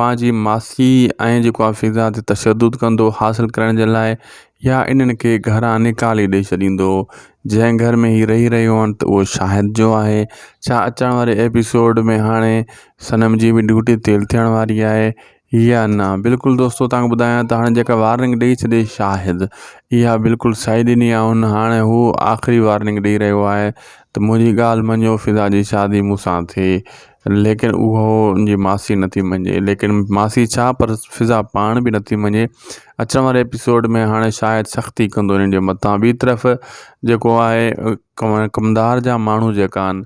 پنهنجي معاشي ۽ جيڪو آهي فضا تي تشدد ڪندو حاصل ڪرڻ جي لاء يا انهن کي گهران نيڪالي ڏئي ڇڏيندو هو جنهن گهر ۾ هي رهي رهيو هن ته اهو شاهد جو آهي ڇا اچڻ واري ايپيسوڊ ۾ هاڻي صنم جي به ڊيوٽي تيل ٿيڻ واري آهي يا نه بلڪل دوستو تانکي ٻڌايان ته هاڻي جيڪا وارننگ ڏئي ڇڏي شاهد اها بلڪل سائي ڏني آهي هن هاڻي هو آخري وارننگ ڏئي رهيو آهي ته منهنجي ڳالهه مڃو فضا جي شادي مون سان ٿئي ليڪن اهو ان جي ماسي نه ٿي مڃي ليڪن ماسي ڇا پر فضا پاڻ به نه ٿي مڃي اچڻ واري ايپيسوڊ ۾ هاڻي شايد سختي ڪندو انهن جي متان ٻي طرف جيڪو آهي ڪمدار جا ماڻهو جيڪا آهن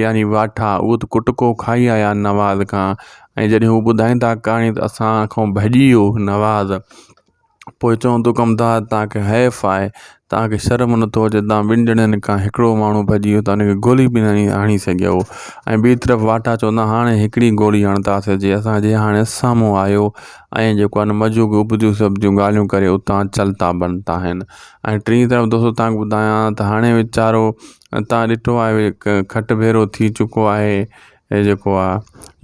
يعني واٺا اهو ته ڪٽڪو کائي آيا آهن نواز کان ۽ جڏهن هو ٻڌائين ٿا ڪهاڻي ته اسان کان ڀڄي ويو نواز پوء چوندو ڪمدار توهان کي حيف آهي توهان کي شرم نٿو اچي توهان ٻن ڄڻن کان هڪڙو ماڻهو ڀڄي ويو توهان کي گولي به ناهي هڻي سگهيو ۽ ٻي طرف واٽا چوندا هاڻي هڪڙي گولي هڻنداسين جي اسانجي هاڻي سامهون آيو ۽ جيڪو آهي نه مجو ڪيو اڀتيون سڀتيون ڳالهيون ڪري اتان چلتا بنتا آهن ۽ ٽي طرف دوستو توهان کي ٻڌايان ته هاڻي ويچارو توهان ڏٺو آهي ڪ کٽ ڀيرو ٿي چڪو آهي هي جيڪو آ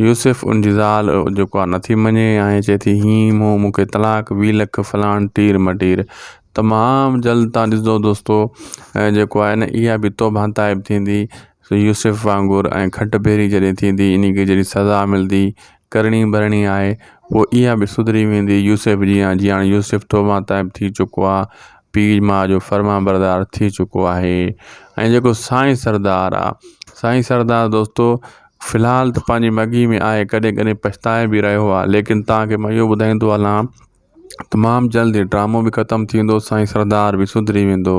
يوسف ان جي زال جيڪو آ نٿي مڃي ۽ چئي ٿي هين مون مون کي طلاق وي لک فلاڻ ٽير مٽير تمام جلد تان ڏسندو دوستو ۽ جيڪو آ اها به توبه تائب ٿيندي يوسف وانگر ۽ کٽ ڀيري جڏهن ٿيندي انهي کي جڏهن سزا ملدي ڪرڻي ڀرڻي آهي پوء اها به سڌري ويندي يوسف جيان جيان يوسف توبه تائب ٿي چڪو آ پير ماء جو فرمانبردار ٿي چڪو آهي ۽ جيڪو سائين سردار آ سائين سردار دوستو في الحال ته پنهنجي مگهي ۾ آهي ڪڏهن ڪڏهن پڇتائي به رهيو آهي ليڪن تنهن کي مان اهو ٻڌائيندو هلان تمام جلد هي ڊرامو به ختم ٿيندو سائين سردار به سڌري ويندو